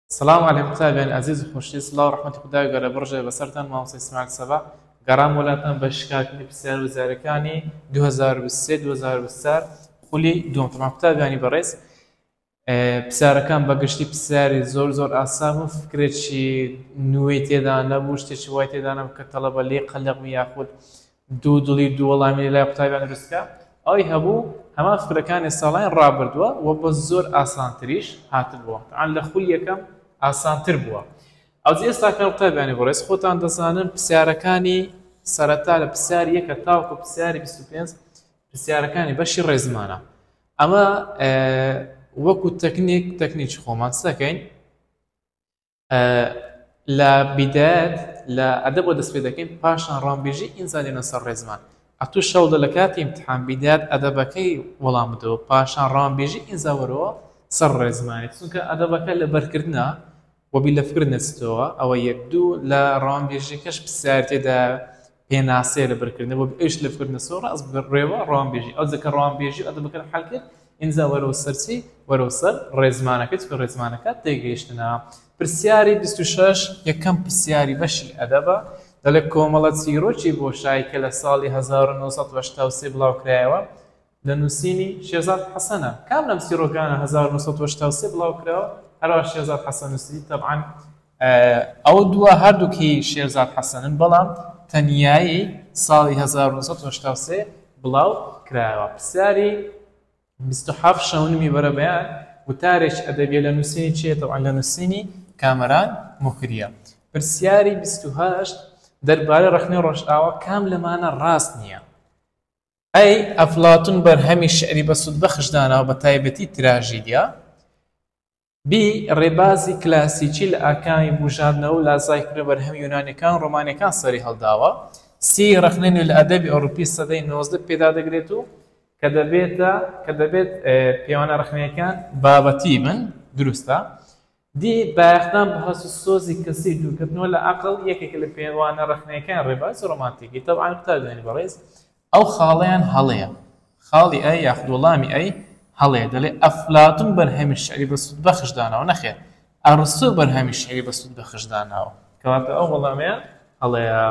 سلام علی قوتابیان ئازیز و خۆشی سلاو ڕحمەتی خدای گەورە بڕژێ بەسەرتان مامۆستا ئیسماعیل سەبا گەڕام وەلاتان بە شکاکردنی پرسیار وزارەکانی 2023 2024 خولی دووەم تەمان قوتابیانی بەڕێز پرسیارەکان بەگشتی پرسیاری زۆر زۆر ئاسان و فکرێکی نوێی تێدا نەبوو شتێکی وای تێدا نەبوو کە تەڵەبە لێ قەلەق یاخود دوو دڵی دوو وەڵامی لە لای قوتابیان دروستکرا ئەوەی هەبوو هەمان فکرەکانی ساڵانی ڕابردووە و بە زۆر ئاسانتریش هاتبووە تەعان لە خولی یەکەم ئاسانتر بووە ئەوجە ئێستا کە قوتابیانی بەڕێز خۆتان دەزانن پرسیارەکانی سەرەتا لە پرسیار یەکە تاوەکو پرسیاری 25 پرسیارەکانی بەشی ڕێزمانە ئەمە وەکو تەکنیک تەکنیکی خۆمان سەکەین لە بیدایەت لە ئەدەبەوە دەست پێ دەکەین پاشان ڕامبێژی ئینجا دێنە سەر ڕێزمان ئەتوو شەو دە لە کاتی امتحان بیدایەت ئەدەبەکەی وەڵام بدەوە پاشان ڕامبێژی ئینجا وەرەوە سەر ڕێزمانێت چونکە ئەدەبەکە لە بەرکردە وەبی لە فکر نەچتەوە ئەوە یەک دوو لە ڕامبێژەکەش پرسیار تێدا پێناسەیە لە بەرکردنە بۆ ئەویش لە فرنەسۆ ڕاست بڕێوە ڕوانبێژی ئەو جەکە ڕوانبێژی ئەدەبەکەت حەل کرد ئینجا وەرەوە سەرچی وەرەوە سەر ڕێزمانەکە چکە ڕێزمانەکە تێگەیشتنە پرسیاری 26 یەکەم پرسیاری بەشی ئەدەبە دەڵێ کۆمەڵە چیرۆکی بۆشای کە لە ساڵی 1970 بڵاوکرایەوە لە نووسینی، شێرزاد حەسەن، ە، کام لەم چیڕۆکانە هەزار و نۆ سەد و هەشتا و سێ بڵاو کراوە، هەروا شێرزاد حەسەن نووسی، تەبعەن، ئەو دووە هەردووک هی شێرزاد حەسەنن، بەڵام تەنیایی ساڵی هەزار و نۆ سەد و هەشتا و سێ بڵاو کراوە. پرسیاری، بیست و حەفت شەونمی بەرەبەیان، وتارێکی ئەدەبییە لە نووسینی کێیە، تەبعەن لە نووسینی، کامەران موکری، ە. پرسیاری، بیست و هەشت دەربارەی ڕەخنەی ڕۆژئاوا، کام لەمانە ڕاست نییە؟ ئەی ئەفلاتون بەرهەمی شیعری بە سوود بەخش داناوە بە تایبەتی تراژیدیا بی ڕێبازی کلاسیکی لە ئاکامی بوژاندنەوە و لازای فرە بەرهەمی یونانیەکان و ڕۆمانیەکان سەری هەڵداوە سی ڕەخنەی نوێ لە ئەدەبی ئەوروپی سەدەی نۆزدە پێدا دەگرێت و کە دەبێتە کە دەبێت پێوانە ڕەخنەکان بابەتی بن دروستە دی بایەخدان بە هەست و سۆزی کەسی و دوورکەتنەوە لە عەقڵ یەکێکە لە پێوانە ڕەخنەیەکانی ڕێبازی ڕۆمانتیکی. تەبعەن قوتابیانی بەڕێز ئەو خاڵەیان هەڵەیە. خاڵی ئە یاخود وەڵامی ئەی هەڵەیە. دەڵێ ئەفلاتون بەرهەمی شیعری بە سوود بەخش داناوە. نەخێر. ئەڕستۆ بەرهەمی شیعری بە سوود بەخش داناوە. کەواتە ئەو وەڵامەیان هەڵەیە.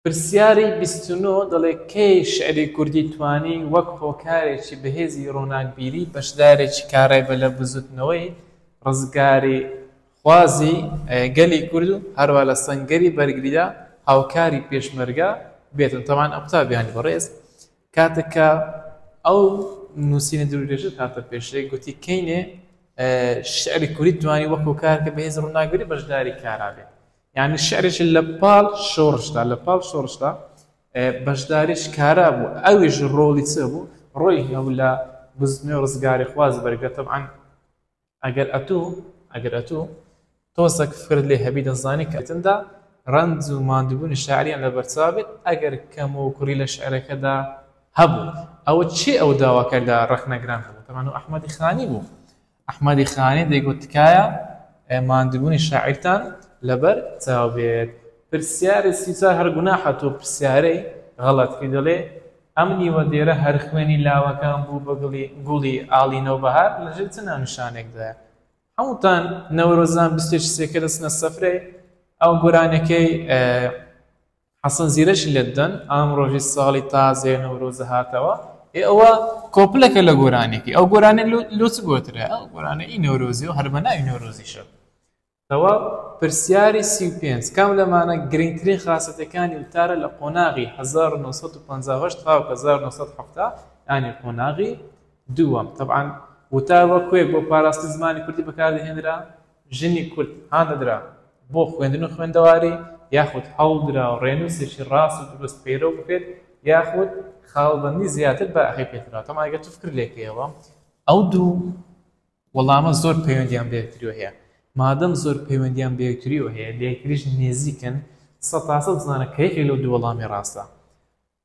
پرسیاری بیست و نۆ دەڵێ کەی شیعری کوردی توانی وەک هۆکارێکی بەهێزی ڕووناکبیری بەشدارێکی کارایبە لە بزووتنەوەی ڕزگاریخوازی گەلی کورد و هەروا لە سەنگەری بەرگریدا هاوکاری پێشمەرگە بێتن تەبان ئەو قوتابیانی بەڕێز کاتێک کە ئەو نووسینە درودێژە کاتە پێشێ گوتی کەینێ شعری کوردی توانی وەک هۆکارکە بەهێز ڕووناگری بەشداری کارابێت یانی شعرێکی لە پاڵ شۆڕشدا لە پاڵ شۆڕشدا بەشداریش کارا بوو ئەویش ڕۆڵی چ بوو ڕۆی هەو لە بزنێ و ڕزگاری خواز بەرگەتەم ئەن ئەگەر ئەتوو ئەگەر ئەتوو تۆزەک فرد لێ هەبی دەزانی کەتندا ڕەنج و مادوبوونی شاعریان لە بەرچاو بێت ئەگەر کەم و کوڕی لە شعرەکەدا هەبوو ئەوە چی ئەو داواکەدا ڕەخنەگران هەبوو تەمان و ئەحمەدی خانی بوو ئەحمەدی خانی دەیگوت تکایە ماندوبونی شاعیرتان لەبەر چاو بێت. پرسیاری سی و چوار هەر گوناحە تۆ پرسیارەی غەڵەت کەی دەڵێی ئەم نیوە دێرە هەر خوێنی لاوەکان بوو بە گڵی گوڵی ئاڵی نەوبەهار لە ژێر چ ناونیشانێکدایە هەمووتان نەورۆزان بیست و یەکی سێکە دەچنە سفرەی ئەو گۆرانیەکەی حەسەن زیرەکی لێدەن ئام ڕۆژی ساڵی تازەیە نەورۆزە هاتەوە ئێ ئەوە کۆپلەکە لە گۆرانێکی ئەو گۆرانێ لۆچ گۆترە ئەو گۆرانە ئی نەورۆزی و هەربەناوی نەورۆزیشە تەوا پرسیاری سی و پێنج کام لەمانە گرنگترین خاستەکانی وتارە لە قۆناغی 1950 تا 1970 ینی قۆناغی دووەم تەبعاان وتار وەکوێک بۆ پاراستنی زمانی کوردی بەکاردەهێنرا ژنی کورد هاندەدرا بۆ خوێندن و خوێندەواری، یاخود هەوڵدرا ڕێنووسێکی ڕاست و دروست پەیرەو بکرێت، یاخود خاڵبەندی زیاتر بایەخی پێدرا، تەمان ئەگەر تۆ فکر لێکەیەوە ئەو دوو وەڵامە زۆر پەیوەندیان بە یەکتریەوە هەیە، مادەم زۆر پەیوەندیان بە یەکتریەوە هەیە، لە یەکتریش نێزیکن، سەدتاسەد بزانە کە یەکێک لەو دوو وەڵامی ڕاستە.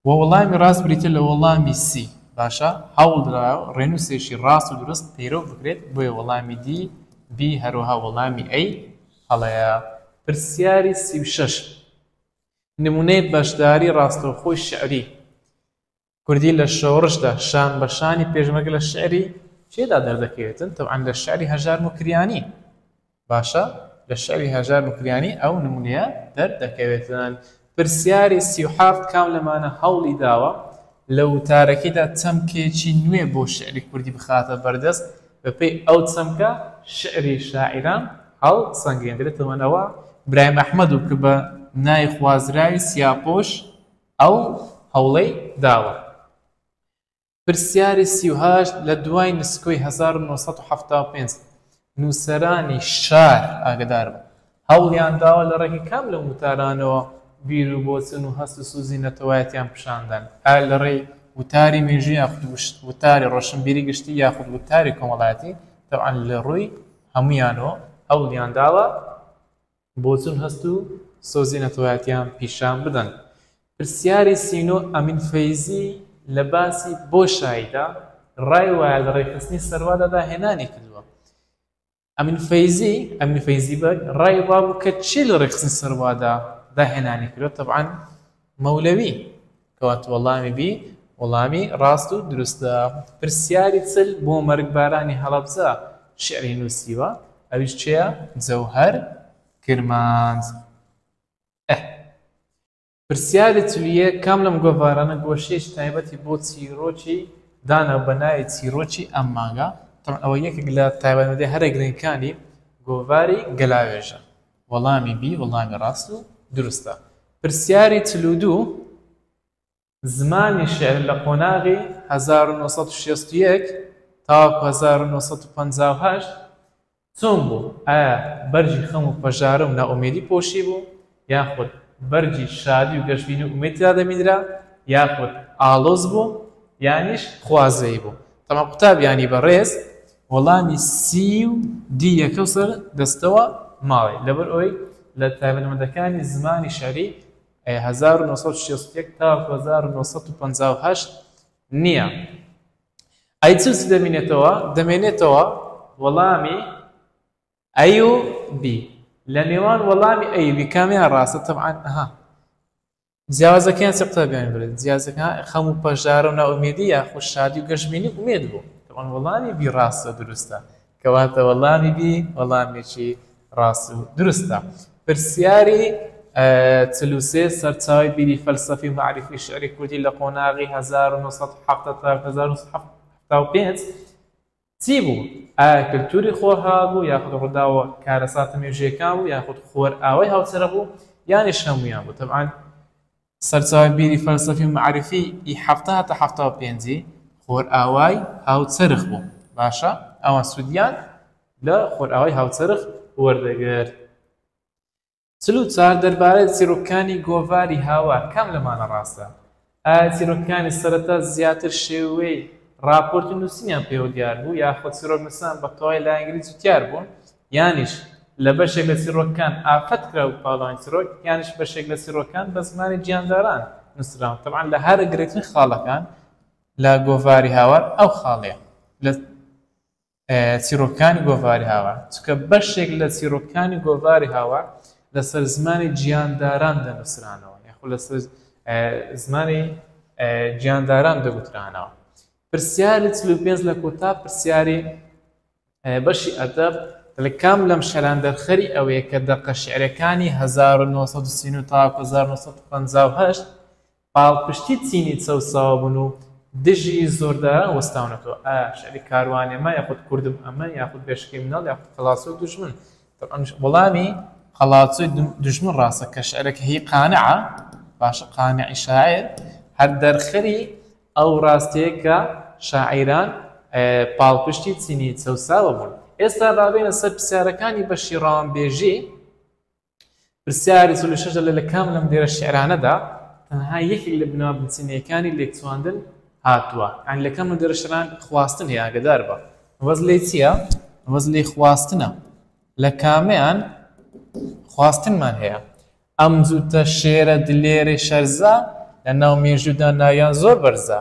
وە وەڵامی ڕاست بریتیە لە وەڵامی سی باشە هەوڵدراوە ڕێنوسێکی ڕاست و دروست پەیرەو بکرێت بۆیە وەڵامی دی بی هەروەها وەڵامی ئەی هەڵەیە. پرسیاری سی و شەش نمونەی بەشداری ڕاستەوخۆی شیعری کوردی لە شۆڕشدا شان بە شانی پێشمەرگە لە شیعری کێدا دەردەکەوێتن تەوعەن لە شیعری هەژار موکریانی. باشە لە شعری هەژار موکریانی ئەو نمونەیە دەر دەکەوێت؟ پرسیاری سی و حەفت، کام لەمانە هەوڵی داوە لە وتارەکەیدا چەمکێکی نوێ بۆ شعری کوردی بخاتە بەردەست، بە پێی ئەو چەمکە شعری شاعیران هەڵ سەنگێندرێتەوە؟ نەوە برایم ئەحمەد و کە بە نای خوازراوی سیاپۆش ئەو هەوڵەی داوە. پرسیاری سی و هەشت، لە دوای نسکۆی هەزار و نۆ سەد و حەفتا و پێنج، نووسەرانی شار ئاگەدار بن، هەوڵیان داوە لە ڕێگەی کام لەم وتارانەوە بیر و بۆچون و هەست و سوزی نەتەوایەتیان پیشان بدەن، ئایا لە ڕێی وتاری مێژوو یاخود وتاری ڕۆشنبیری گشتی یاخود وتاری کۆمەڵایەتی، تەبعەن لە ڕووی هەموویانەوە هەوڵیان داوە، بۆچون هەست و سۆزی نەتەوایەتیان پیشان بدەن. پرسیاری سی و نۆ ئەمین فەیزی لە باسی بۆشاییدا ڕای وایە لە ڕێکخستنی سەروادا داهێنانی کردووە. ئەمین فەیزی، ئەمین فەیزی بەگ، ڕای وابوو کە چی لە ڕێکخستنی سەروادا داهێنانی کردووە، تەبعەن مەولەوی، کەواتە وەڵامی بی وەڵامی ڕاست و دروستە. پرسیاری چل بۆ مەرگبارانی هەڵەبجە شیعری نووسیوە، ئەویش کێیە؟ جەوهەر کرمانج. ئه. پرسیاری چل و یەک، کام لەم گۆڤارانە گۆشەیەکی تایبەتی بۆ چیرۆکی داناو بە ناوی چیرۆکی ئەم مانگە؟ تەبعەن ئەوە یەکێک لە تایبەتمەندییە هەرە گرنگەکانی گۆڤاری گەلاوێژە. وەڵامی بی وەڵامی ڕاست و دروستە. پرسیاری چل و دوو، زمانی شیعر لە قۆناغی هەزار و نۆ سەد و شەست و یەک تاوەکو هەزار و نۆ سەد و پەنجا و هەشت چۆن بوو؟ ئایا بەرگی خەم و پەژارە و نائومێدی پۆشیبوو؟ یاخود بەرگی شادی و گەشبینی و ئومێد تێدا دەبینرا؟ یاخود ئاڵۆز بوو؟ یانیش خوازەیی بوو؟ تەواو قوتابیانی بەڕێز وەڵامی سی و دی یە کەوسەر دەستەوە ماڵی لەبەر ئەوەی لە تایبەتمەندەکانی زمانی شیعری هەزار و نۆ سەد و شەست و یەک تاوەکو هەزار و نۆ سەد و پەنجا و هەشت نییە ئەی چ چی دەمینێتەوە دەمێنێتەوە وەڵامی ئەی و بی لە نێوان وەڵامی ئەی و بی کامیان ڕاستە تەبعەن ئەها جیاوازەکەیان چ قوتابیانی بڵێت جیازەکە خەم و پەژارە و ناومێدی یاخود شادی و گەشبینی ئومێد بوو ئەوان وەڵامی بی ڕاستە دروستە کەواتە وەڵامی بی وەڵامێکی ڕاست و دروستە پرسیاری چلوسێ سەرچاوی بیری فەلسەفی معریفی شعری کوردی لە قۆناغی 1970 تا 1970 تا پێنج چی بوو؟ ئایا کلتوری خۆرهەڵات بوو یاخود ڕووداوە کارەساتە مێژوویەکان بوو یاخود خۆرئاوای هاوچەرخ بوو یانیش هەموویان بوو؟ تەبعەن سەرچاوەی بیری فەلسەفی و مەعریفی ی حەفتا هەتا حەفتا و پێنج ی خۆرئاوای هاوچەرخ بوو. باشە ئەوان سوودیان لە خۆرئاوای هاوچەرخ وەردەگرت. چل و چوار، دەربارەی چیرۆکەکانی گۆڤاری هاوار کام لەمانە ڕاستە؟ ئایا چیرۆکەکانی سەرەتا زیاتر شێوەی ڕاپۆرتی نووسینیان پێوە دیار بوو یاخود چیرۆکنووسان بە تەواوی لایەنگری جوتیار بوون یانیش لە بەشێک لە چیرۆکەکان ئافەت کرابوو پاڵەوانی چیرۆک یانیش بەشێک لە چیرۆکەکان بە زمانی گیانداران نووسراون تەبعەن لە هەرە گرنگترین خاڵەکان لە گۆڤاری هاوار ئەو خاڵەیە لە چیڕۆکەکانی گۆڤاری هاوار، چونکە بەشێک لە چیڕۆکەکانی گۆڤاری هاوار لەسەر زمانی گیانداران دەنووسرانەوە یاخود لەسەر زمانی گیانداران دەگوترانەوە. پرسیاری چل و پێنج لە کۆتا پرسیاری بەشی ئەدەب لە کام لەم شەران دەرخەری ئەوەیە کە دەقە شعرەکانی 1939 تا 1950 پاڵپشتی چینی چەوساوە بوون و دژی زۆرداران وەستاونەتەوە، ئایا شیعری کاروانێمە یاخود کوردم ئەمە یاخود بێشکەی مناڵ یاخود قەڵاچۆی دوژمن؟ تەبعەن وەڵامی قەڵاچۆی دوژمن ڕاستە کە شیعرەکە هی قانعە، باشە قانعی شاعیر هەر دەرخەری ئەو ڕاستیەیە کە شاعیران پاڵپشتی چینی چەوساوە بوون. ئێستا با بێینە سەر پرسیارەکانی بەشی ڕەوانبێژی. پرسیاری چل و شەش لە کام لەم دێرە شعرانەدا تەنها یەکێک لە بنەما بنچینەیەکانی لێکچواندن هاتووە یان لە کام لەم دێرە شعران خواستن هەیە ئاگەدار بە مەبەست لێی چییە مەبەست لێی خواستنە لە کامەیان خواستنمان هەیە ئەم جووتە شێرە دلێرەی شەرزە لە ناو مێژودا ناویان زۆر بەرزە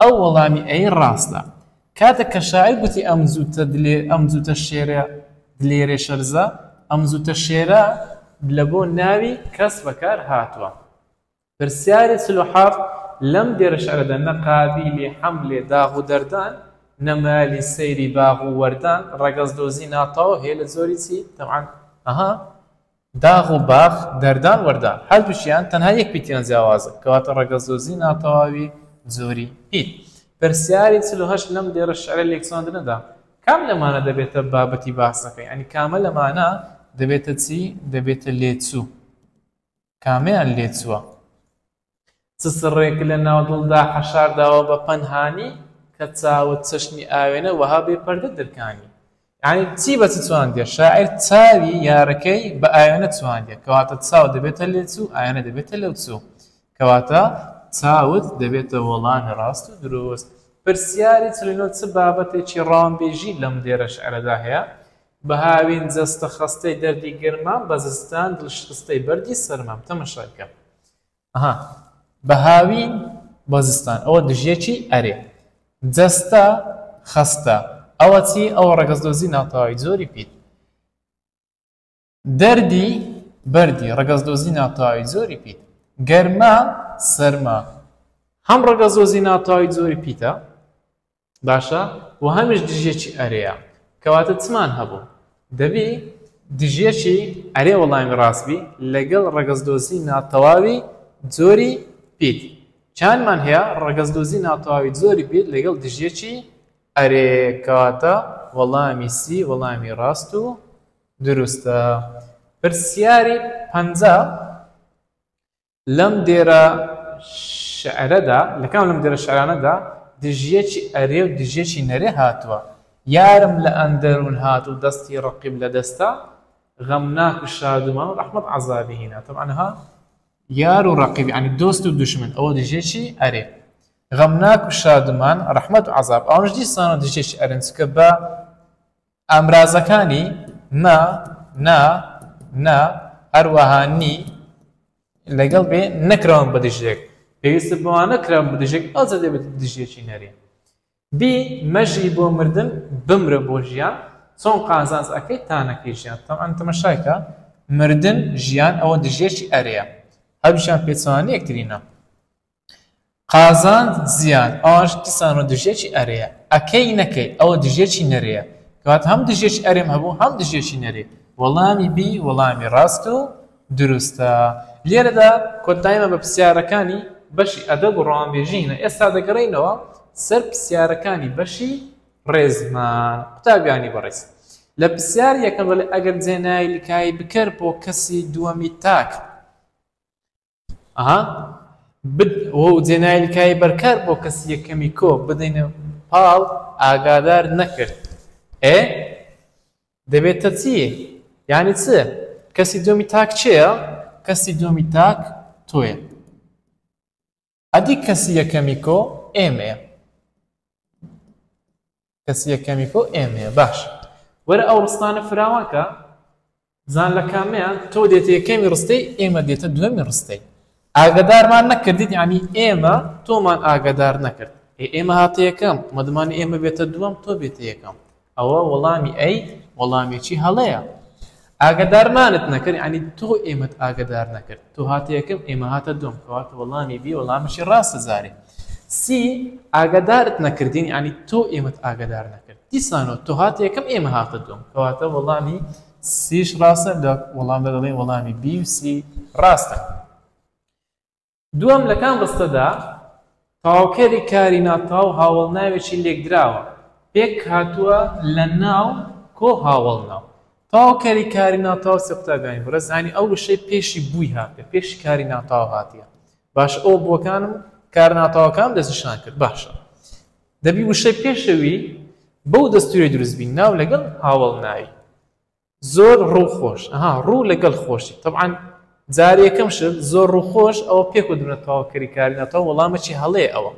ئەو وەڵامی ئەی ڕاستە کاتێک کە شاعیر گوتی ئەم زووتە دلێ ئەم زووتە شێرێ دلێرێ شەرزە ئەم زووتە شێرە دلە بۆ ناوی کەس بەکار هاتووە پرسیاری چل و حەفت لەم دێرە شعرەدا نە قابیلی حەملێ داغ و دەردان نە مالی سەیری باغ و وەردان ڕەگەز دۆزی ناتاو هەیە لە جۆری چی تەبعەن ئەها داغ و باخ، دەردان وەردان، هەردووکیان تەنها یەک پیتیان جیاوازە، کەواتە ڕەگەزدۆزی ناتەواوی جۆری پیت. پرسیاری چل و هەشت لەم دێڕە شیعرە لێکچواندنەدا کام لەمانە دەبێتە بابەتی باسەکە؟ یانی کامە لەمانە دەبێتە چی؟ دەبێتە لێچوو. کامەیان لێچووە؟ سسڕێک لە ناو دڵدا حەشارداوە بە پەنهانی کە چاوت چەشنی ئاوێنە وەها بێ پەردە درکانی یانی چی بە چ چواندیە شاعیر چاوی یارەکەی بە ئاوێنە چواندیە کەواتە چاو دەبێتە لێچوو ئاوێنە دەبێتە لەو چوو کەواتە چاوت دەبێتە وەڵامی ڕاست و درۆست پرسیاری چلینۆ چ بابەتێکی ڕامبێژی لەم دێرە شعرەدا هەیە بە هاوین جەستە خەستەی دەردی گەرمام بە زستان دڵشکستەی بەردی سەرمام تەمەشای بکە ئەها بە هاوین بە زستان ئەوە دژیەکی ئەرێ جەستە خەستە ئەوە چی ئەوە ڕەگەز دۆزی ناتەواوی جۆری پیت دەردی بەردی ڕەگەز دۆزی ناتەواوی جۆری پیت گەرما سەرما هەم ڕەگەز دۆزی ناتەواوی جۆری پیتە باشە وە هەمیش دژیەکی ئەرێیە کەواتە چمان هەبوو دەبی دژیەکی ئەرێ وەڵامی ڕاست بی لەگەڵ ڕەگەزدۆزی ناتەواوی جۆری پیت چانمان هەیە ڕەگەزدۆزی ناتەواوی جۆری پیت لەگەڵ دژیەکی ئەرێ کەواتە وەڵامی سی وەڵامی ڕاست و دروستە پرسیاری پەنجا لەم دێرە شعرەدا، لە کام لەم دێرە شعرانەدا دژیەکی ئەرێ و دژیەکی نەرێ هاتووە، یارم لە ئەندەروون هات و دەستی ڕەقیب لە دەستە، غەمناک و شادومان و ڕەحمەت عەزابی هینا. تەبعەن ها یار و ڕەقیب یانی دۆست و دوژمن ئەوە دژیەکی ئەرێ. غەمناک و شادومان، ڕەحمەت و عەزاب ئەوانەش دیسانەوە دژیەکی ئەرێن چونکە بە ئامرازەکانی، مە، نە، نە، هەروەها، نی، لەگەڵ بێ نەکراون بە دژیەک، پێویستە بۆمان نەکراون بە دژیەک، ئەوجا دەبێتە دژیەکی نەرێنی. بی، مەژی بۆ مردن، بمرە بۆ ژیان، چۆن قازانج ئەکەی تانەکەی ژیان؟ تەبعەن تەمەشاکە، مردن، ژیان، ئەوە دژیەکی ئەرێیە، هەردووکیان پێچەوانەی یەکترینە. قازانج زیان ئاش دیسانەوە دژیەکی ئەرێیە ئەکەی نەکەی ئەوە دژیەکی نەرێیە کەواتە هەم دژیەکی ئەرێم هەبوو هەم دژیەکی نەرێ وەڵامی بی وەڵامی ڕاست و دروستە لێرەدا کۆتایمە بە پرسیارەکانی بەشی ئەدەب و ڕەوانبێژی هینا ئێستا دەگەڕێینەوە سەر پرسیارەکانی بەشی ڕێزمان قوتابیانی بەڕێز لە پرسیار یەکەم بەڵێ ئەگەر جێنایلکای بکەر بۆ کەسی دووەمی تاک ئەها بد و جێنایل کای بەرکار بۆ کەسی یەکەمی کۆ بدەینە پاڵ ئاگادار نەکرد ئێ دەبێتە چی یانی چ کەسی دووەمی تاک چێە کەسی دووەمی تاک تۆێ ئەدی کەسی یەکەمی کۆ ئێمەیە کەس یەکەمی تۆ ئێمەیە باشە وەرە ئەو ڕستانە فراوان کە بزان لە کامیان تۆ دێتە یەکەمی ڕستەی ئێمە دێتە دوێمی ڕستەی ئاگدارمان نەکردیت ینی ئێمە تۆمان ئاگدار نەکرد ئێمە هاتە یەکەم مەدمان ئێمە بێتە دووەم تۆ بێتە یەکەم ئەوە وەڵامی ئەی وەڵامێکی هەڵەیە ئاگەدارمانت نەکرد یانی تۆ ئێمەت ئاگەدار نەکرد تۆ هاتە یەکەم ئێمە هاتە دووەم کەواتە وەڵامی بی وەڵامشی ڕاستە جارێ سی ئاگەدارت نەکردین یانی تۆ ئێمەت ئاگەدار نەکرد دیسانەوە تۆ هاتە یەکەم ئێمە هاتە دووەم کەواتە وەڵامی سیش ڕاستە لە وەڵامدا دەڵێن وەڵامی بی و سی ڕاستە دووەم لە کام ڕستەدا تەواوکەری کاری ناتاو هاوەڵناوێکی لێکدراوە پێک هاتووە لە ناو کۆ هاوەڵناو؟ تەواوکەری کاری ناتاو سێ قوتابیانی بڕێز هانی ئەو وشەی پێشی بووی هاتێ پێشی کاری ناتاو هاتیە باش ئەو بووەکانم کار ناتاوەکان دەستنیشان کرد باشە دەبی وشەی پێشەوی بەو دەستوری دروستبی ناو لەگەڵ هاوەڵ ناوی زۆر ڕوو خۆش ئەها ڕوو لەگەڵ خۆشی طبعاان جارەکەم شت زۆر ڕوو خۆش ئەوە پێک و دونە تەواوکەری کاری ناتەوە وەڵامەی هەڵێ ئەوە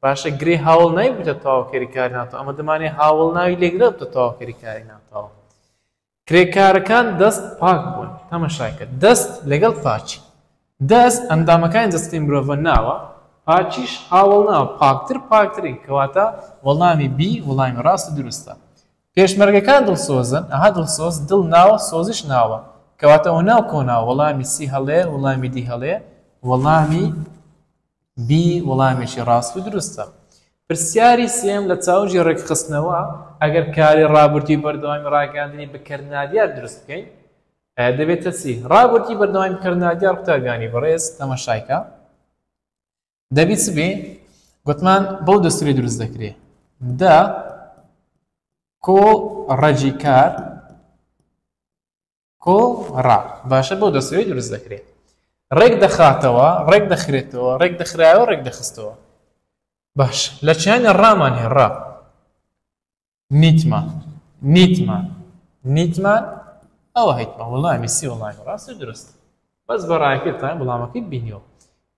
باشە گرێ هاوڵ نای بتە تەواوکەری کاری ناتەوە ئەمە دەمانێ هاوڵ ناوی لێکدا بتە تەواوکەری کاری ناتەوە کرێکارەکان دەست پاک بوون تەمەشاکە دەست لەگەڵ پاچی دەست ئەندامەکانی دەستی مرۆڤە ناوە پاچیش هاوڵ ناوە پاکتر پاکترین کەواتە وەڵامی بی وڵامی ڕاست دروستە پێشمەرگەکان دڵسۆزن، ئەها دڵسۆز، دڵ ناوە، سۆزیش ناوە، کەواتە ئۆناو کۆناو، وەڵامی سی هەڵەیە، وڵامی دی هەڵەیە، وەڵامی بی وڵامێکی ڕاست و دروستە. پرسیاری سێیەم لە چاوگی ڕێکخستنەوە، ئەگەر کاری ڕابردووی بەردەوامی ڕاگەیاندنی بکەر نادیار دروست بکەین، دەبێتە چی؟ ڕابردووی بەردەوامی بکەر نادیار، قوتابیانی بەڕێز تەمەشای کە. دەبی چ بێ گوتمان بەو دەستوری دروست دەکرێ دا کۆ ڕەجی کار کۆ ڕا باشە بەو دەستوری دروست دەکرێت ڕێک دەخاتەوە ڕێک دەخرێتەوە ڕێک دەخراوە ڕێک دەخستەوە باش لە چیانی ڕامان هێڕا نیتمان نیتمان نیتمان ئەوە هەیتمە وڵامی سی وڵامی ڕاست درست بەس بە ڕایکردتان وڵامەکەی بینیەوە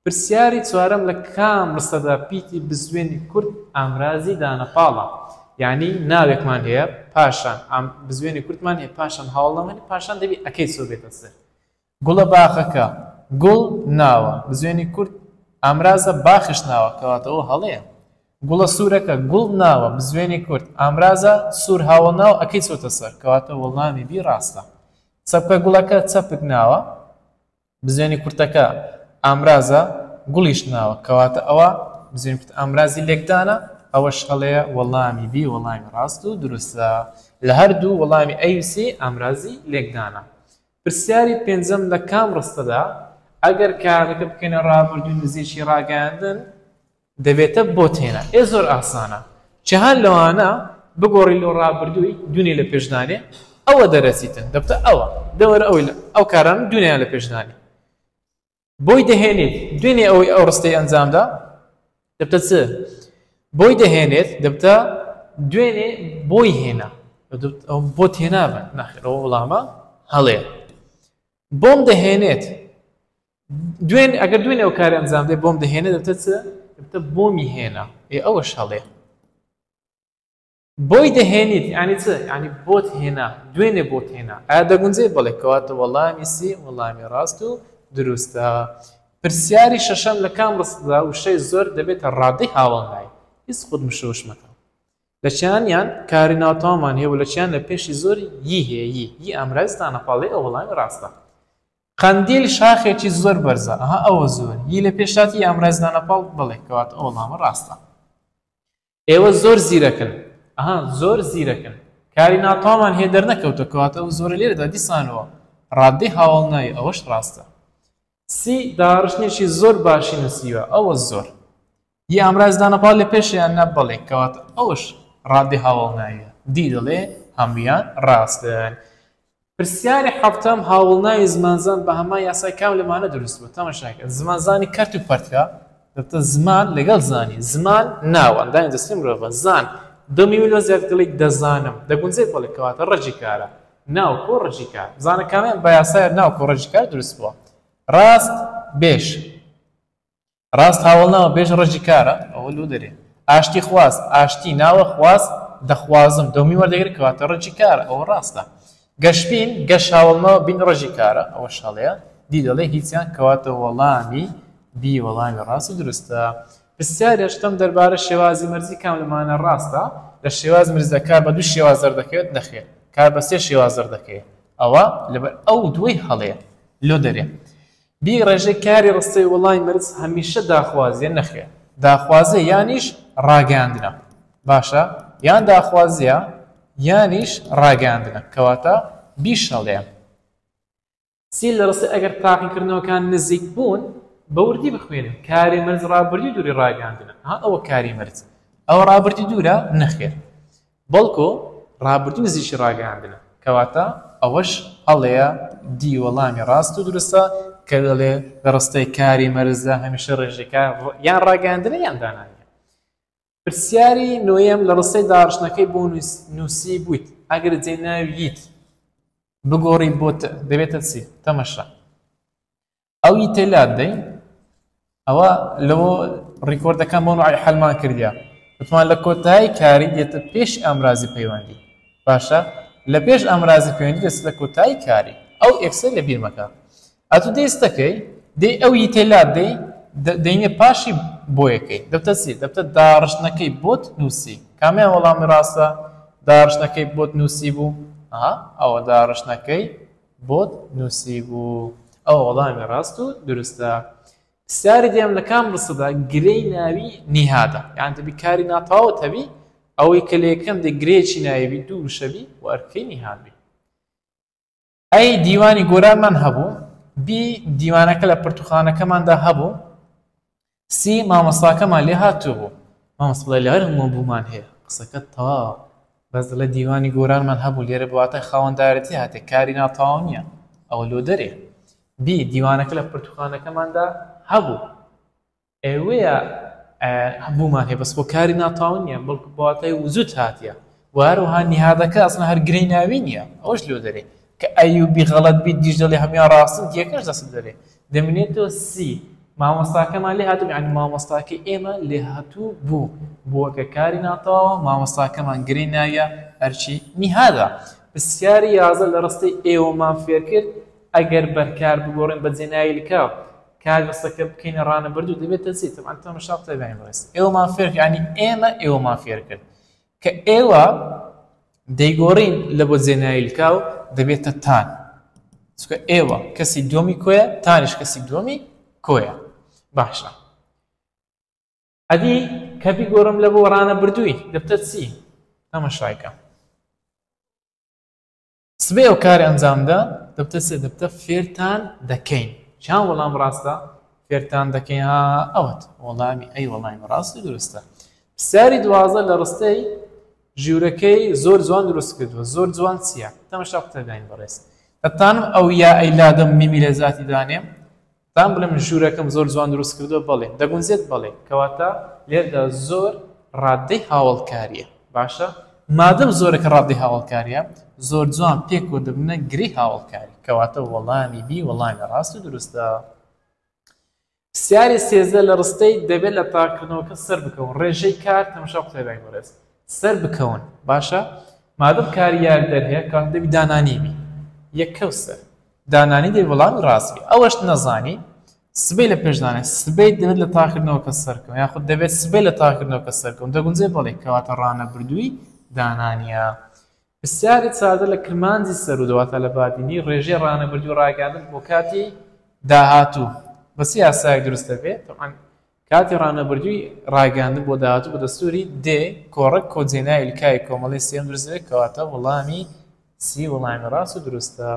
پرسیاری چوارەم لە کام ڕستەدا پیتی بزوێنی کورد ئامرازی دانەپاڵە یعنی ناوێکمان هەیە پاشان بزوێنی کورتمان هەیە پاشان هاوڵامانی پاشان دەبی ئەەکەی سۆ بێتە سەر گوڵە باخەکە، گوڵ ناوە، بزوێنی کورد، ئامرازە، باخش ناوە، کەواتە ئەوە هەڵەیە. گوڵە سوورەکە، گوڵ ناوە، بزوێنی کورد، ئامرازە، سوور هاوەڵ ناوە، ەکەی چۆتە سەر، کەواتە وەڵامی بی ڕاستە. چەپکە گوڵەکە، چەپک ناوە، بزوێنی کورتەکە، ئامرازە، گوڵیش ناوە، کەواتە ئەوە، بزوێنی کورت، ئامرازی لێکدانە، ئەوەش هەڵەیە، وەڵامی بی وەڵامی ڕاست و دروستە، لە هەردوو وەڵامی ئەی و سێ ئامرازی لێکدانە. پرسیاری پێنجەم لە کام ڕستەدا ئەگەر کارەکە بکەینە ڕابردووی نزیکی ڕاگەیاندن دەبێتە بۆ تێنا ئێ زۆر ئاسانە چهان لەوانە بگۆڕی لۆ ڕابردووی دونی لە پێشدانێ ئەوە دەرەسیتن دەبتە ئەوە دەوەرە ئەوی ئەو کاران دونیان لە پێشدانی بۆی دەهێنێت دوێنێ ئەوەی ئەو ڕستەی ئەنجامدا دەبتە چ بۆی دەهێنێت دەبتە دوێنێ بۆی هێنا بۆ تێنابن ناخێرەوە وڵامە هەڵێ بۆم دەهێنێت دوێن ئەگەر دوێنێ ئەو کار ئەنجام دێ بۆم دەهێنێت دەبتە چ دەبتە بۆمی هێنا ئێ ئەوە شەڵێ بۆی دەهێنیت یانی چ یانی بۆت هێنا دوێنێ بۆت هێنا ئایا دەگونجێت بەڵێ کەواتە وەڵامی سی وەڵامی ڕاست و دروستە پرسیاری شەشەم لە کام ڕستەدا وشەی زۆر دەبێتە ڕادەی هاوەڵنای هیچ خود مشەوش مەکە لە چیانیان کاری ناوتامان هەیە و لە چیان لە پێشی زۆر یی هەیە یی یی ئامرازتانە پاڵێ ئەو وەڵامی ڕاستە قەندیل شاخێکی زۆر بەرزە ئەها ئەوە زۆر یی لە پێشاتی ئامرازدانە پاڵ بڵێ کەواتە ئەو وەڵامە ڕاستە ئێوە زۆر زیرەکن. ئەها زۆر زیرەکن. کاری ناتەوامان هەیە دەرنەکەوتە کەواتە ئەو زۆرە لێرەدا دیسانەوە ڕاددەی هاوەڵناوی ئەوەش ڕاستە. سی داڕشتنێکی زۆر باشی نووسیوە ئەوە زۆر. ی ئامراز دانە پاڵ لە پێشە یان نا بەڵێ کەواتە ئەوەش ڕاددەی هاوەڵناوییە. دی دەڵێ هەموویان ڕاستن. پرسیاری حەڤتەم، هاوڵناوی زمانزان بە هەمان یاسای کام لە مانە دروست بووە؟ تەماشاکە، زمان زانی کەرت و پەرتکە، دەتە زمان لەگەڵ زانی، زمان ناوە، ئەندامی جەستەی مرۆڤە، زان، دو میمی لۆ زیاد گەڵیک، دەزانم، دەگونجێت بەڵێ، کەواتە ڕەجی کارە، ناو کۆ ڕەجی کار، زانە کامەیان بە یاسای ناو کۆ ڕەجی کار دروست بووە؟ ڕاست، بێژ. ڕاست هاوەڵناوە بێژ ڕەجی کارە ئەوە لۆ دەرێ ئاشتی خواز ئاشتی ناوە خواز دەخوازم دەومی وەردەگرێ کەواتە ڕەجی کارە ئەوە ڕاستە گەشبین گەش هاوەڵناوە بین ڕەجی کارە ئەوە شەڵەیە دی دەڵێ هیچیان کەواتە وەڵامی بی وەڵامی ڕاست و دروستە پرسیارێ شتم دەربارە شێوازی مەرزی کام لەمانە ڕاستە لە شێواز مرزە کار بە دوو شێواز دەردەکەوێت نەخێر کار بە سێ شێواز دەردەکەوێت ئەوە لەبەر ئەو دووی هەڵەیە لۆ دەرێ بی ڕێژەی کاری ڕستەی وەڵای مەرز هەمیشە داخوازیە نەخێر داخوازیە یانیش ڕاگەیاندنە باشە یان داخوازیە یانیش ڕاگەیاندنە کەواتە بی شەڵێ. سی لە ڕستەی ئەگەر تاقیکردنەوەکان نزیک بوون بە وردی بخوێنن کاری مەرز ڕابردی دووری ڕاگەیاندنە ئەها ئەوە کاری مەرز ئەوە ڕابردی دوورە نەخێر بەڵکۆ ڕابردوو نزیکی ڕاگەیاندنە، کەواتە ئەوەش هەڵەیە دی وەڵامی ڕاست و دروستە کە دەڵێ لە ڕستەی کاری مەرزدا هەمیشە ڕێژەی کار یان ڕاگەیاندنە یان دانانیە. پرسیاری نۆیەم لە ڕستەی داڕشتنەکەی بۆ نووسیبوویت ئەگەر جێ ناوی یت بگۆڕی بۆ ت دەبێتە چی؟ تەمەشا. ئەو ی تێ لات دەی ئەوە لەوە ڕیکۆردەکان بۆ نوعی حلمان کردیا وتمان لە کۆتایی کاری دێتە پێش ئامرازی پەیوەندی باشە لە پێش ئامرازی پەیوەندی دەست لە کۆتایی کاری ئەو ئێکسە لە بیرمەکە ئەتو دەیستەکەی دێ ئەو ی تێ لات دەی دەینێ پاشی بۆ یەکەی دەبتە چی دەبتە داڕشتنەکەی بۆت نووسی کامیان وەڵامی ڕاستە داڕشتنەکەی بۆت نووسی بوو ئەوە داڕشتنەکەی بۆت نوسیبوو ئەوە وەڵامی ڕاست و دروستە پرسیاری دێم لە کام ڕستەدا گرێی ناوی نیهادە یان دەبی کاری ناتەواوت هەبی ئەوەی کە لە یەکەم دێ گرێیەکی ناوی بی دوو وشە بی و ئەرکەی نیهاد بی ئەی دیوانی گۆرانمان هەبوو بی دیوانەکە لە پەرتوخانەکەماندا هەبوو سی مامۆستاکەمان لێ هاتووبوو مامۆستا بڵێ لە هەر مۆبوومان هەیە قسەکەت تەواوە بەس دەڵێ دیوانی گۆرانمان هەبوو لێرە بە واتای خاوەندارێتی هاتێ کاری ناتەواو نییە ئەوە لۆ دەرێ بی دیوانەکە لە پرتوخانەکەماندا هەبوو ئێوەیە بوومان هەیە بەس بۆ کاری ناتەواو نییە بەڵکو بە واتای وجود هاتیە و هەروەها نیهادەکە ئەسڵەن هەر گرێی ناوی نییە ئەوەش لۆ دەرێ کە ئەیوبی غەڵەت بیت دیش دەڵێ هەموان ڕاستن تیەکەش دەستم دەرێ دەمنێتۆ سی مامۆستاکەمان لێ هاتوو یانی مامۆستاکەی ئێمە لێ هاتوو بوو بووە کە کاری ناتەواوە مامۆستاکەمان گرێی ناویە ئەرچی نیهادا پسیاری یازە لە ڕستەی ئێوەمان فێرکرد ئەگەر بەرکار بگۆڕین بە جێنایلکە کار ڕستەکە بکەینە ڕانەبردوو دەبێتە چی تەبعەن تەمەشا تەبیانی بەڕێز ئێوەمان فێرکرد یانی ئێمە ئێوەمان فێرکرد کە ئێوە دەیگۆڕین لە بۆ جێناویلکە و دەبێتە تان، چونکە ئێوە کەسی دووەمی کۆیە، تانیش کەسی دووەمی کۆیە. باشە. ئەدی کە بیگۆڕم لە بۆ ڕانەبردووی دەبتە چی؟ تەماشای کە. سبەی ئەو کار ئەنجامدا دەبتە سێ دەبتە فێرتان دەکەین چیان وەڵام ڕاستە فێرتان دەکەین ها ئەوەت وەڵامی ئەی وەڵامی ڕاستی دروستە پرسیاری دوازە لە ڕستەی ژیورەکەی زۆر جوان دروست کردووە زۆر جوان چییە تەمەشا قوتەداین بەڕێز دەتانم ئەو یا ئەیلادەم میمی لە زیاتی دانێم بان بڵێم ژوورەکەم زۆر جوان دروست کردووە بەڵێ دەگونجێت بەڵێ کەواتە لێرەدا زۆر ڕاددەی هاوەڵکاریە باشە مادەم زۆرەکە ڕاددەی هاوەڵکاریە زۆر جوان پێک و دەبنە گری هاوەڵکاری کەواتە وەڵامی بی وەڵامی ڕاست و دروستە سیاری سێزە لە ڕستەی دەبێت لە تاکردنەوەکە سەر بکەون ڕێژەی کار تەمەشا قوتێبای گۆرەس سەر بکەون باشە مادەم کاریار دەرهەیە کاتدەبی دانانیبی یەکەو سەر دانانی دەی وەڵامی ڕاستگە ئەوەشت نەزانی سبەی لە پێش دانێ سبەی دەبێت لە تاکردنەوە کە سەرکەوە یاخود دەبێت سبەی لە تاکردنەوە کە سەرکەون دەگونجێ بەڵێ کەواتە ڕانەبردووی دانانیە پرسیاری سادە لە کرمانجی سەرو دەواتە لە بادینی ڕێژەی ڕانەبردووی ڕاگەیاندن بۆ کاتی داهاتوو بەس یاسایەک دروست دەبێت تەبعەن کاتی ڕانەبردووی ڕاگەیاندن بۆ داهاتوو بە دەستووری دێ کۆڕەک کۆجێنای لکای کۆمەڵەی سێیەم دروست دەبێت کەواتە وەڵامی سی وەڵامی ڕاست و دروستە.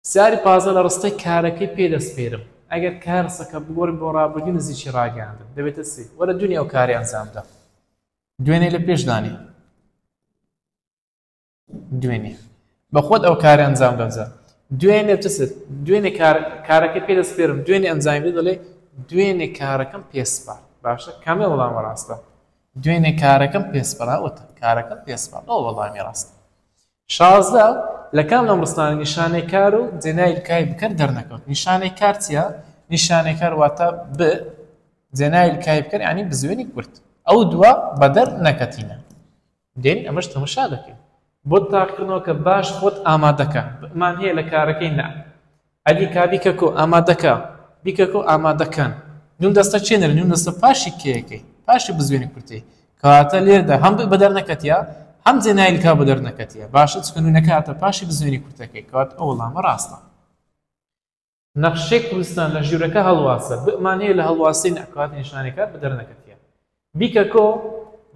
پرسیاری پازدە لە ڕستەی کارەکەی پێ دەسپێرم ئەگەر کای ڕستەکە بگۆڕین بۆ ڕابردووی نزیکی ڕاگەیاندن دەبێتە سی وەرە دوێنێ ئەو کارەی ئەنجام بدە دوێنێ لە پێش دانێ. دوێنێ بە خۆت ئەو کارە ئەنجام دەجا دوێنێ چ سەر دوێنێ کارەکە پێ دەسپێرم دوێنێ ئەنجامی بێ دەڵێ دوێنێ کارەکەم پێسپار باشە کامێ وەڵامە ڕاستە دوێنێ کارەکەم پێسپراوەتە کارەکەم پێسپار ئەو وەڵامی ڕاستە شازدە لە کام لەم ڕستانە نیشانەی کار و جێنای کای بکەن دەرنەکەوت نیشانەی کار چییە نیشانەی کار واتە ب جێنای کای بکەن ینی بزوێنی کورت ئەو دووە بەدەر نەکەتینە دێین ئەمەش تەمەشا دەکەین. بۆ تاقیکردنەوەکە باش خۆت ئامادەکە. بمان هەیە لە کارەکەی نا. ئەدی کا بیکەکۆ ئامادەکە. بیکەکۆ ئامادەکەن. نون دەستە چێ نەرێ نون دەستە پاشی کێیەکەی پاشی بزوێنی کورتەی کەواتە لێردا هەم بە دەر نەکەتیە هەم جێنایل کا بە دەر نەکەتیە باشە چکە نونەکە هاتە پاشی بزوێنی کورتەکەی کەوات ئەو وەڵامە ڕاستە نەخشەی کوردستان لە ژوورەکە هەڵواسە، بئمان هەیە لە هەڵواسەی نەکات نیشانەکات بە دەرنەکەتیە. بیکە کۆ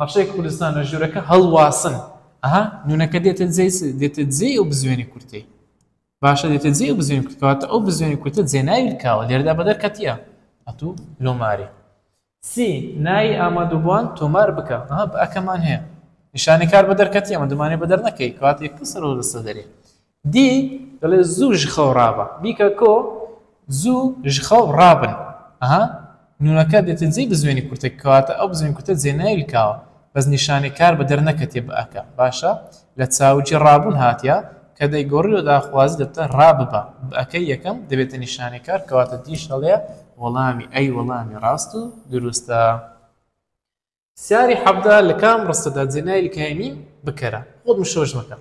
نەخشەی کوردستان لە ژوورەکە هەڵواسن. ئەها نونەکە دێتە جێ دێتە جێ ئەو بزوێنی کورتەی. باشە دێتە جێ بزوێن کورتکەواتە ئەو بزوێنی کورتە جێناوی کاوە لێردا بە دەرکەتیە ئەتوو لۆماری. سی نایی ئامادوبوان تۆمار بکە ئەها بئ کەمان هەیە نیشانەی کار بە دەرکەتی ئەمە دەمانێ بە دەر نەکەی کات یەک کەس رەوە دەستە دەرێ دی دەڵێ زوو ژخەو ڕابە بیکە کۆ زوو ژخەو ڕابن ئەها نونەکە دێتە جێی بزوێنی کورتە کەواتە ئەو بزوێن کورتە جێناوی کاوە بەس نیشانەی کار بە دەر نەکەتێ بئەکە باشە لە چاوگی ڕابوون هاتیە، کە دەیگۆڕی و داخوازی دەبتە ڕا ببە، بئەکەی یەکەم دەبێتە نیشانەکار، کەواتە دیش ئەڵێ وەڵامی ئەی وەڵامی ڕاست و دروستە. سیاری حەڤدە لە کام ڕستەدا جێناوی لکای میم بکەرە؟ خۆت مشۆش مەکە،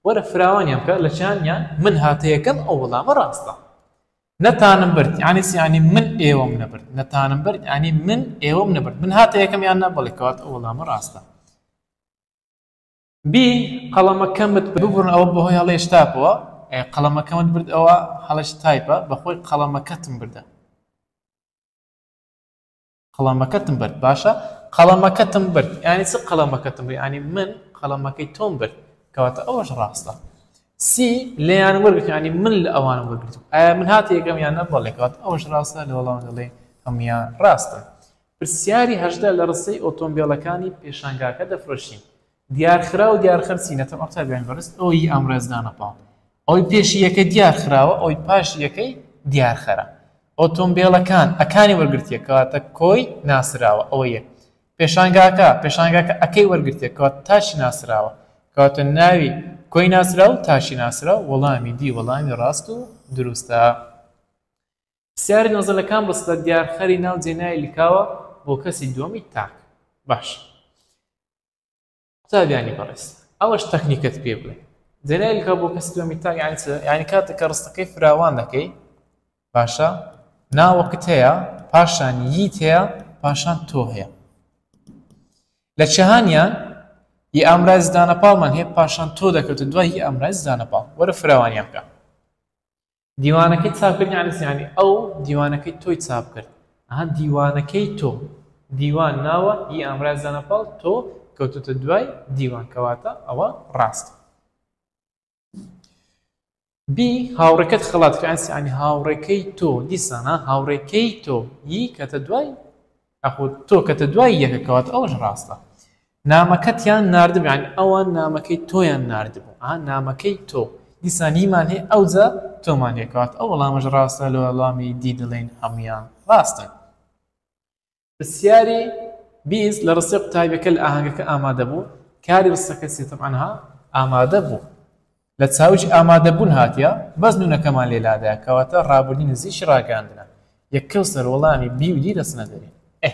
وەرە فراوانیان بکە، لە چیانیان من هاتە یەکەم ئەو وەڵامە ڕاستە. نەتانم برد یانی چی؟ یانی من ئێوەم نەبرد. نەتانم برد یانی من ئێوەم نەبرد. من هاتە یەکەم یان نا؟ بەڵێ، کەواتە ئەو وەڵامە ڕاستە. بی قەڵەمەکەمت ببڕ ئەوە بەهۆی هەڵەیش تاپەوە قەڵەمەکەمت برد ئەوە هەڵەش تایپە بەخۆی قەڵەمەکەتم بردە قەڵەمەکەتم برد باشە قەڵەمەکەتم برد ینی چ قەڵەمەکەتم بری ینی من قەڵەمەکەی تۆم برد کەواتە ئەوەش ڕاستە سی لێیان وەرگرتانی من لە ئەوان وەرگرت ئایا من هاتی یەکەم یان نەبڵێکات ئەوش ڕاستە لە وەڵام دەڵێ هەموان ڕاستە پرسیاری هەژدە، لە ڕستەی ئۆتۆمبێلەکانی پێشانگاکە دەفرۆشین، دیارخرا و دیارخەرسی نەتەوە قوتابیانی بەڕێز ئەو ی ئەمڕێز دانە پاڵ ئەوەی پێشی یەکەی دیارخراوە ئەوەی پاشی یەکەی دیارخەرە ئۆتۆمبێلەکان ەکانی وەرگرتیە کەواتە کۆی ناسراوە ئەوە یەک پێشانگاکە پێشانگاکە ەکەی وەرگرتیە کەواتە تاشی ناسراوە کەواتە ناوی کۆی ناسراو تاشی ناسراو وەڵامی دی وەڵامی ڕاست و دروستە. پرسیاری نۆزدە لە کام ڕستە دیارخەری ناو جێنای لکاوە بۆ کەسی دووەمی تاک باش قوتابیانی بەڕێز ئەوەش تەکنیکت پێ بڵێ جێنای لکا بۆ کەسی دووەمی تاک یعنی یعنی کاتێک کە ڕستەکەی فراوان دەکەی باشە ناوەکت هەیە پاشان ییت هەیە پاشان تۆ هەیە لە چهانیان ی ئامرای زدانە پاڵمان هەیە پاشان تۆ دەکەوتە دوای هی ئامرای زدانە پاڵ وەرە فراوانیان بکە دیوانەکەی چاپکرد یعنی چی یعنی ئەو دیوانەکەی تۆی چاپکرد ئەها دیوانەکەی تۆ دیوان ناوە ی ئامراز دانە پاڵ تۆ کەوتوتە دوای دیوان کەواتە ئەوە ڕاستە بی هاوڕێکەت خەڵات کرد یعنی هاوڕێکەی تۆ دیسانە هاوڕێکەی تۆ ی کەتە دوای ئەخۆ تۆ کەتە دوای یەکە کەواتە ئەوەش ڕاستە نامەکەتیان ناردبوو یانی ئەوان نامەکەی تۆیان ناردبوو ئا نامەکەی تۆ دیسان هیمان هەیە ئەوجا تۆمان هەیە کەواتە ئەو وەڵامەش ڕاستە لە وەڵامی دی دەڵێین هەموویان ڕاستن. پرسیاری بیست لە ڕستەی قوتابیەکە لە ئاهەنگەکە ئامادە بوو کاری ڕستەکە چیە تەبعەن ها ئامادە بوو لە چاویش ئامادە بوون هاتیە بەس نونەکەمان لێ لادایە کەواتە ڕابردوو نزیکی ڕاگەیاندنە یەکەو سەر وەڵامی بی و دی دەچنە دەرێ ئەه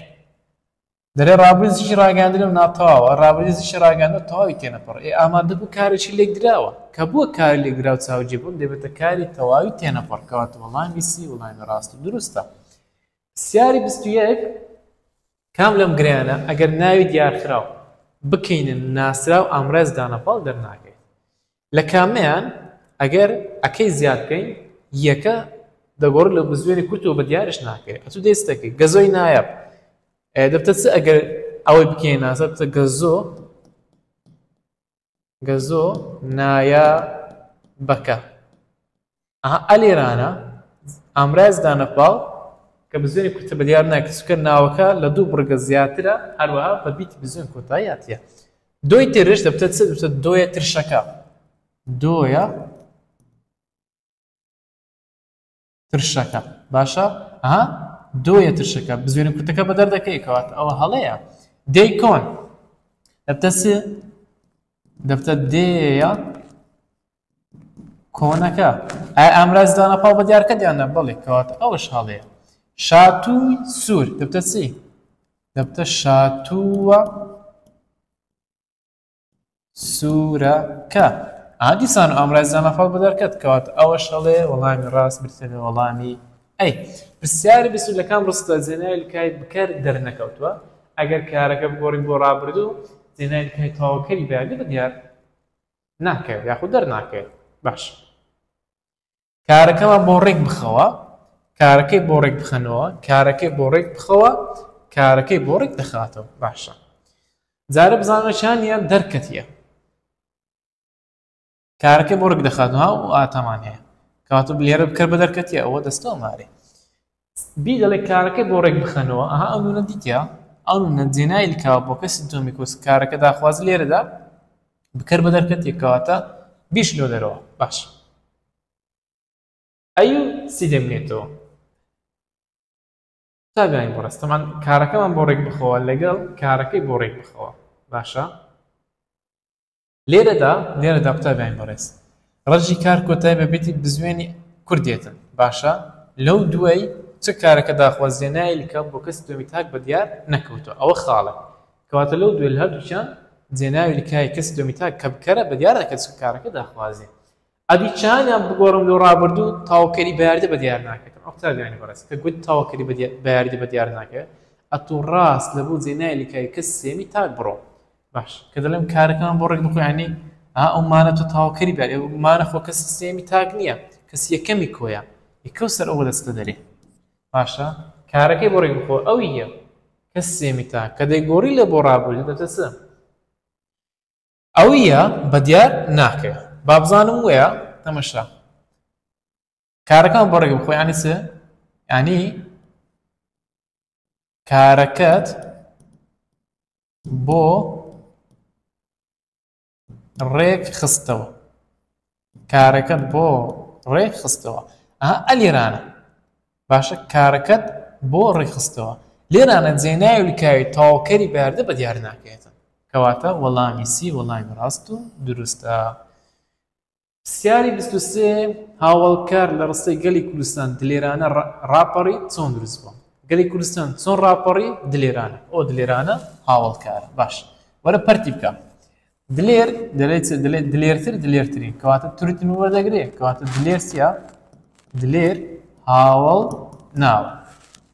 دەلێ ڕابریزشی ڕاگەیاندنم ناتەواوە، ڕابریزشی ڕاگەیاندن تەواوی تێنەپەڕ، ئێ ئامادەبوو کارێکی لێکدراوە، کە بووە کاری لێکدراو چاوجێبوون دەبێتە کاری تەواوی تێنەپەڕ، کەواتە وەڵامی سی وەڵامی ڕاست و دروستە. پرسیاری بیست و یەک، کام لەم گرێیانە، ئەگەر ناوی دیارکراو، بکەینە ناسراو ئامرازی دانەپاڵ دەرناکەوێت؟ لە کامەیان ئەگەر ەکەی زیاد بکەین یەکە دەگۆڕێت لە بزوێنی کورتەوە بە دیارش ناکرێت ئەتوو دەیست دەکەیت گەزۆی نایاب دەبتە چ ئەگەر ئەوەی بکەین نازە بتە گەزۆ گەزۆ نایە بەکە ئەها ئەلێرانە ئامراز دانەپاو کە بزوێنی کورتە بە دیار ناکە چکە ناوەکە لە دوو بڕگە زیاترە هەروەها بە بیت بزوێن کۆتاییاتە دوی ترش دەبتە چ دەبتە دۆیە ترشەکە دۆیە ترشەکە باشە ها دۆیە ترشەکە بزوێنە کورتەکە بە دەردەکەی کەوات ئەوە هەڵەیە دەی کۆن دەبتە چ دەبتە دێە کۆنەکە، ئایا ئامرازی دانە پاڵ بە دیارکەت یان نا؟ بەڵێ، کەواتە ئەوەش هەڵەیە. شاتووی سوور دەبتە چی؟ دەبتە شاتووە سوورەکە. ئا دیسان و ئامرازی دانە پاڵ بە دیارکەت، کەواتە ئەوەش هەڵەیە، وەڵامی ڕاست بریتییە لە وەڵامی ئەی. پرسیاری بیست و دوو لە کام ڕستە جێناوی لکای بکەر دەرنەکەوتووە؟ ئەگەر کارەکە بگۆڕین بۆ ڕابردوو، جێناوی لکای تەواوکەری بەیانی بە دیار. ناکەوێت یاخود دەرناکەوێت باش کارەکەمان بۆ ڕێک بخەوە کارەکەی بۆ ڕێک بخەنەوە کارەکەی بۆ ڕێک بخەوە کارەکەی بۆ ڕێک دەخاتەوە باشە جارە بزانەشانە دەرکەتیە کارەکەی بۆ ڕێک دەخاتەوە و ئاتەمان هەیە کاتو لێرە بکە بە دەرکەتیە ئەوە دەستەوە مارێ بی دەڵێ کارەکە بۆ ڕێک بخەنەوە ئەها ئەو نونە دیتیا ئەو نونە جێنایل کاوە بۆ کەس سنتۆمیکۆس کارەکە داخواز لێرەدا بکەر بە دەرکەتێک کەواتە بیش لۆ دەرەوە باش ئەیو سی دەمێتەوە تابیانی بۆ ڕستەمان کارەکەمان بۆ ڕێک بخەوە لەگەڵ کارەکەی بۆ ڕێک بخەوە باشە لێرەدا لێرەدا قوتابی برای بەڕێز ڕەجی کار کۆتای بە بێتی بزوێنی کورد دێتن باشە لەو دوای چ کارەکە داخوازیە نایلکە بۆ کەس دوێمی تاک بە دیار نەکەوتو ئەوە خاڵە کەواتە لەو دوێل هەردووچیان جێناوی لکای کەس دوێمی تاک کە بکەرە بە دیار دەکەس کارەکە داخوازی ئەبی چیانیان بگۆڕم لۆ ڕابردوو تاوکەری بەیاردە بەدیار ناکەێتم ئەو قوتابیانی بەڕێز کە گوت تاوکەری بەیاردە بەدیار ناکەێت ئەتوو ڕاست لە بۆ جێنای لکای کەس سێمی تاک بڕۆ باش کە دەڵێم کارەکان بۆ ڕێک بخۆیانی ئەو مانە تۆ تاوکەری بەێ مانە خۆ کەسی سێمی تاک نییە کەس یەکەمی کۆیە یکە سەر ئەوە دەستە دەرێ باشە کارەکەی بۆ ڕێک بخۆ ئەو یە کەس سێمی تاک کە دەیگۆڕی لە بۆ ڕابوو دەتەسە ئەویە بەدیار ناکرێ بابزانم وەیە تەمەشا کارەکان بەڕێ بخۆ ینی چ ینی کارەکەت بۆ ڕێک خستەوە کارەکەت بۆ ڕێک خستەوە ئەها ئەلیرانە باشە کارەکەت بۆ ڕێکخستەوە لێرانە جێناوی لکاوی تەواوکەری بەاردە بە دیار ناکەێتە کەواتە وەڵامی سی وەڵامی ڕاست و دروستە پرسیاری بیست و سێ هاوڵکار لە ڕستەی گەلی کوردستان دلێرانە ڕاپەڕی چۆن دروست بووە گەلی کوردستان چۆن ڕاپەڕی دلێرانە ئەو دلێرانە هاوڵکارە باش وەرە پەرتی بکە دلێر دەلێت دلێت دلێرتر دلێرترین کەواتە تورتن وەردەگرێ کەواتە دلێر چیە دلێر هاوڵ ناو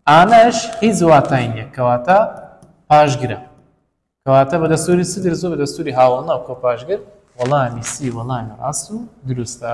ئانەش هیچ واتای نیە کەواتە پاشگرە کەواتە بە دەستوری سدر زۆ بە دەستوری هاوڵ ناو کۆ پاشگر وەڵامی سی وەڵامی ڕاست و دروستە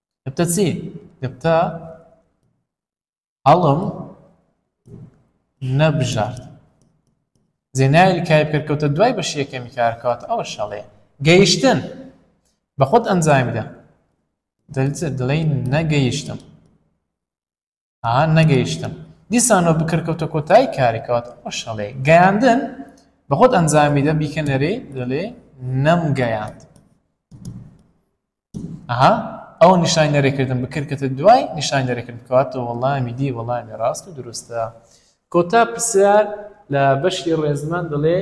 گفتە چی گفتە هەڵم نەبژارد زێناوی کای پێکەوتە دوای بەش یەکەمی کارکات ئەوە شەڵێ گەیشتن بە خۆت ئەنجامیدا دەڵێ نەگەیشتم ئاها نەگەیشتم دیسانەوە بکەر کەوتە کۆتایی کارێکەوەت ئەشەڵێ گەیاندن بە خۆت ئەنجامی دە بیکەنەرێ دەڵێ نەم گەیاند ئەها ئەو نیشان نەرێکردن بکردکەتە دوای نیشان نەرێکرد بکاتەوە وەڵامی دی وەڵامی ڕاست و دروستە کۆتا پرسیار لە بەشی ڕێزمان دەڵێ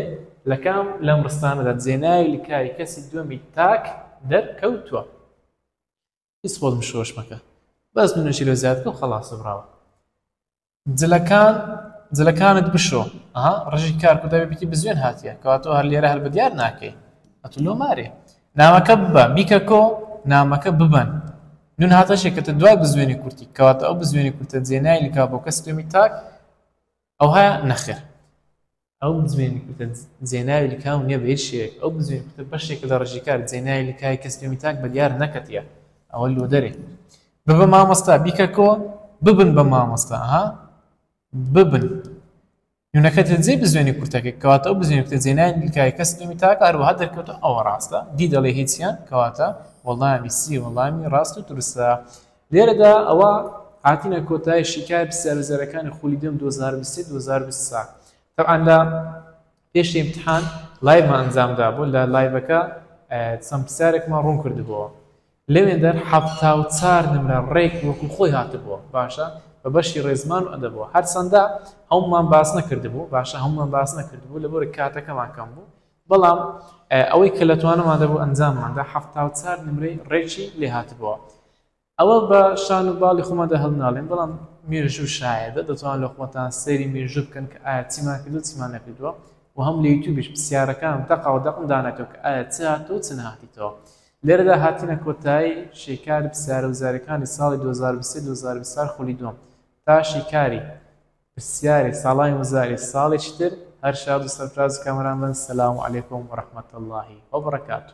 لەکام لەم ڕستانەدا جێناوی لکاوی کەسی دووەمی تاک دەرکەوتووە هیچ خۆت بشۆش مەکە بەس منەشی لە زیاد بکەم خەڵاسە براوە جلەکان جلەکانت بشۆ ئەها ڕژی کار کو دەبێ بکی بزوێن هاتیە کەواتەوە هەر لێرە هەر بە دیار ناکەی ئەتو لۆ مارێ ناوەکە ببە بیکە کۆ نامەکە ببەن نون هاتە شێکەتە دوای بزوێنی کورتی کەواتە ئەو بزوێنی کورتە جێنای لکا بۆ کەس پێمی تاک ئەوها نەخێر ئەو بزوێن کوتە جێناوی لکاو نیە بە هیچ شێوەیەک ئەو بزوێن کوتە بەشێکە لە ڕژی کار جێناوی لکای کەس پێمی تاک بە دیار نەکەتیە ئەوە لۆ دەرێ ببە مامۆستا بیکە کۆ ببن بە مامۆستا ها ببن یونەکە جێ بزوێنی کورتەکە کەواتە ئەو بزوێن کوتە جێناوی لکای کەس پێمی تاک هەروەها دەرکەوتە ئەوە ڕاستە دی دەڵێ هیچیان کەواتە وەڵامی سی وەڵامی ڕاست و دروستە لێرەدا ئەوە هاتینە کۆتای شیکای پرسیار و زێرەکانی خولی دوێم 2023 2024 تەبعەن لە پێش امتحان لایڤمان ئەنجام دابوو لە لایڤەکە چەند پرسیارێکمان ڕوون کردبووە لەوێندەر حەفتا و چار نمرە ڕێک وەکو خۆی هاتبووە باشە بە بەشی ڕێزمان و ئەدەبەوە هەرچەندە هەمومان باس نەکردبوو باشە هەمومان باس نەکردبوو لەبەر کاتەکەمان کەم بوو بەڵام ئەوەی کە لە توانەماندا بوو ئەنجامماندا حەفتا و چار نمرەی ڕێکی لێ هاتبووە ئەوە بە شان و باڵی خۆماندا هەڵناڵێن بەڵام مێژوو شایەدە دەتوان لە خۆتان سەیری مێژوو بکەن کە ئایا چیمان کردو چیمان نەکردووە و هەم لە یوتیوبیش پرسیارەکان دەقا و دەقم دانێتەوە کە ئایا چ هاتوو چ نهاتیتەوە لێرەدا هاتینە کۆتایی شیکاری پرسیارە وزارەکانی ساڵی 2023 2024 خولی دووەم تا شیکاری پرسیاری ساڵانی وزاری ساڵێکی تر هەر شاد و سەرفراز کامەران بن سلام علیکم ورحمت اللە وبرکاته.